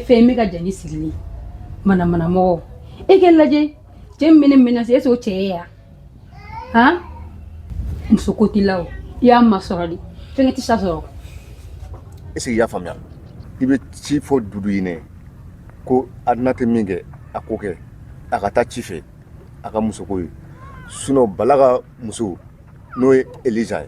fɛn in bɛ ka jɛn sigilen manamanamɔgɔ e k'i lajɛ cɛ min bɛ ne minɛ e s'o cɛ ye yan han muso ko t'i la o i y'a masɔrɔ de fɛnkɛ tɛ sa sɔrɔ est ce que i y'a faamuya i bɛ ci fɔ dudu ye ne ko aduna tɛ min kɛ a k'o kɛ a ka taa ci fɛ a ka musoko ye sinon bala ka muso n'o ye eliza ye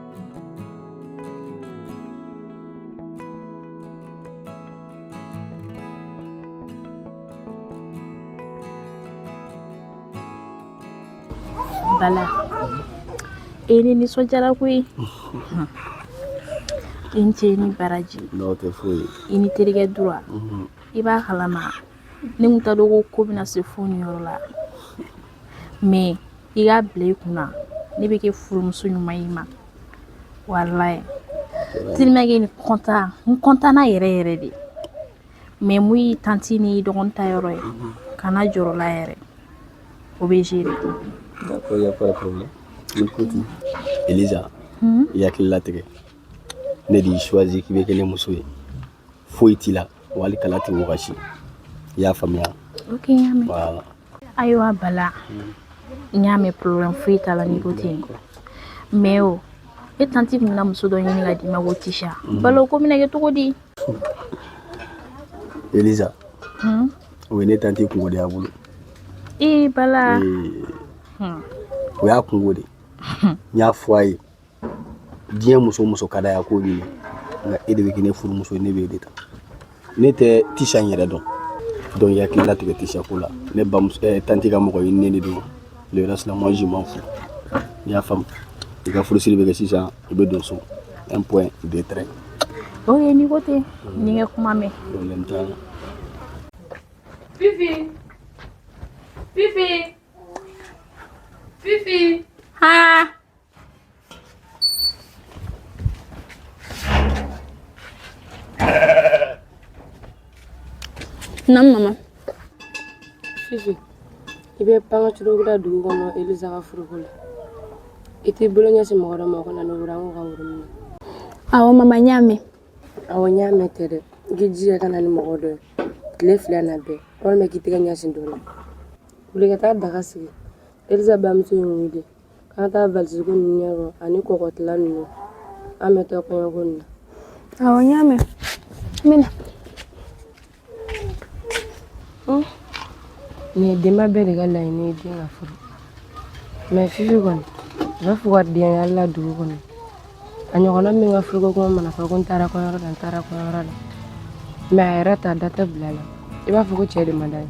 Bala ee ne nisɔndiyara koyi i ni ce ni baraji i n'i terikɛ dura i b'a kalama ne tun t'a dɔn ko ko bɛna se fo nin yɔrɔ la mais i k'a bila i kun na ne bɛ kɛ furumuso ɲuman ye i ma walayi tellement que ne kɔntanna yɛrɛ yɛrɛ de mais mun y'i tanti n'i dɔgɔnin ta yɔrɔ ye kana jɔrɔ o la yɛrɛ o bɛ gérer D'accord, il n'y a pas de problème. Écoute, Elisa, i hakili latigɛ. Ne de y'i choisi k'i bɛ kɛ ne muso ye. Foyi t'i la. wali kala tɛ wɔsi i y'a faamuya ok n y'a mɛn voilà. ayiwa bala n y'a mɛn problème foyi t'a la n'i ko ten mais o e tanti tun bɛna muso dɔ ɲini ka d'i ma ko tisha bala o ko bɛna kɛ cogo di elisa Hmm? o ye ne tanti kunko de y'a bolo ee bala Ee, Hmm. o y'a kunko de ye n y'a fɔ a ye diɲɛ muso muso ka d'a ye a k'o ɲini nka e de bɛ kɛ ne furumuso ye ne bɛ e de ta ne tɛ tisha in yɛrɛ dɔn donc i hakili latigɛ tisha ko la ne bamuso eh, tanti ka mɔgɔ ɲininen de don le reste la moi je m'en fous i y'a faamu i ka furusiri bɛ kɛ sisan i bɛ don so un point deux traits o ye n'i ko ten n y'i ka kuma mɛn problème t'a la Fifi Fifi Fifi haa Naamu mama Fifi i bɛ pan ka curo da dugu kɔnɔ Eliza ka furuko la i t'i bolo ɲɛsin mɔgɔ dɔ ma o ka na ni woro ye an ka wari minɛ awɔ mama n y'a mɛn awɔ n y'a mɛn tɛ dɛ i k'i jija ka na ni mɔgɔ dɔ ye tile fila na bɛɛ walima k'i tɛgɛ ɲɛsin dɔ la wuli ka taa daga sigi Eliza bamuso ye wuli K'an ka taa valise ko ninnu ɲɛdɔn ani kɔkɔtila ninnu an bɛ taa kɔɲɔko nin na awɔ n y'a mɛn n bɛna nin ye denba bɛɛ de ka laɲini ye den ka furu mɛ fifi kɔni a b'a fɔ ka denkɛ la dugu kɔnɔ a ɲɔgɔnna min ka furuko kuma mana fɔ ko n taara kɔɲɔyɔrɔ la n taara kɔɲɔyɔrɔ la mɛ a yɛrɛ ta da tɛ bila la i b'a fɔ ko cɛ de man d'a ye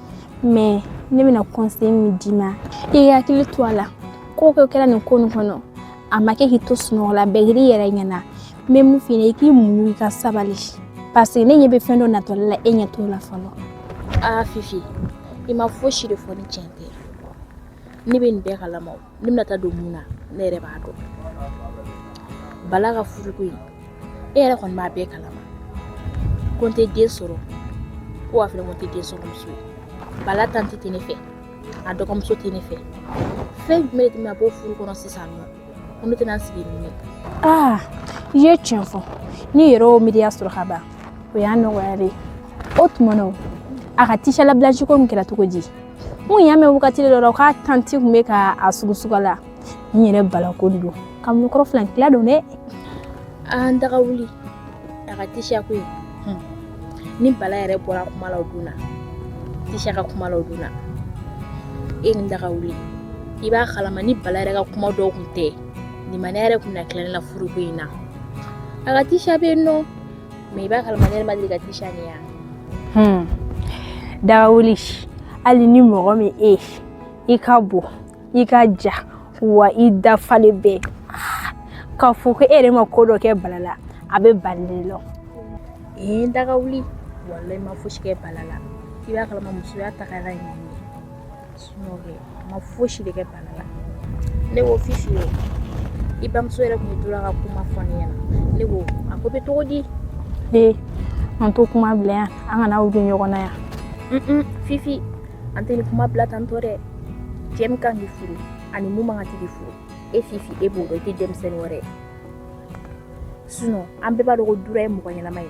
mɛ ne bɛna kɔnsɛyi min d'i ma i k'i hakili to a la ko o ko kɛra nin ko nin kɔnɔ a ma kɛ k'i to sunɔgɔ la bɛɛ kɛr'i yɛrɛ ɲɛna n bɛ mun f'i ɲɛna i k'i muɲu i ka sabali paseke ne ɲɛ bɛ fɛn dɔ natɔ de la e ɲɛ t'o la fɔlɔ aa fifi i ma fosi de fɔ ni tiɲɛ tɛ ne bɛ nin bɛɛ kalama ne bɛna taa don mun na ne yɛrɛ b'a dɔn bala ka furuko in e yɛrɛ kɔni b'a bɛɛ kalama ko n tɛ den sɔrɔ ko wa fana ko n tɛ den sɔrɔ muso ye bala tante tɛ ne fɛ a dɔgɔmuso tɛ ne fɛ fɛn jumɛn de tun bɛ bɔ furu kɔnɔ sisan nɔ ko ne tɛna n sigi nin ye aa i ye tiɲɛ fɔ ne yɛrɛ y'o miiriya sɔrɔ ka ban o y'a nɔgɔya de ye o tuma na o a ka tisha la blanche ko min kɛra cogo di n kun y'a mɛn wagati dɔ la k'a tanti kun bɛ ka a sugusuga la n yɛrɛ bala ko de don kamalenkɔrɔ filan tila don dɛ an daga wuli a ka tisha ko ye ni bala yɛrɛ bɔra kuma la o don na tisha ka kuma la o don na e ni daga wuli i b'a kalama ni bala yɛrɛ ka kuma dɔw kun tɛ nin ma ne yɛrɛ kun na tila ne la furuko in na a ka tisha bɛ yen nɔ Mɛ i b'a kalama ne yɛrɛ ma deli ka tisha nin ye yan. Hmm. Daga wuli hali ni mɔgɔ min e i ka bon i ka jan wa i dafalen bɛɛ k'a fɔ ko e yɛrɛ ma ko dɔ kɛ bala la a bɛ bali lɔ ee daga wuli walayi n ma fosi kɛ bala la i b'a kalama musoya tagara yen ma fosi de kɛ bala la ne ko fifi ye i bamuso yɛrɛ kun tora ka kuma fɔ ne ɲɛna ne ko a ko bɛ cogo di ee an t'o kuma bila yan an kana wuli ɲɔgɔn na yan fifi an tɛ nin kuma bila tantɔ dɛ cɛ min kan k'i furu ani min man kan tɛ k'i furu e fifi e b'o dɔn i tɛ denmisɛnnin wɛrɛ ye sinɔn an bɛɛ b'a dɔn ko dura ye mɔgɔ ɲɛnama ye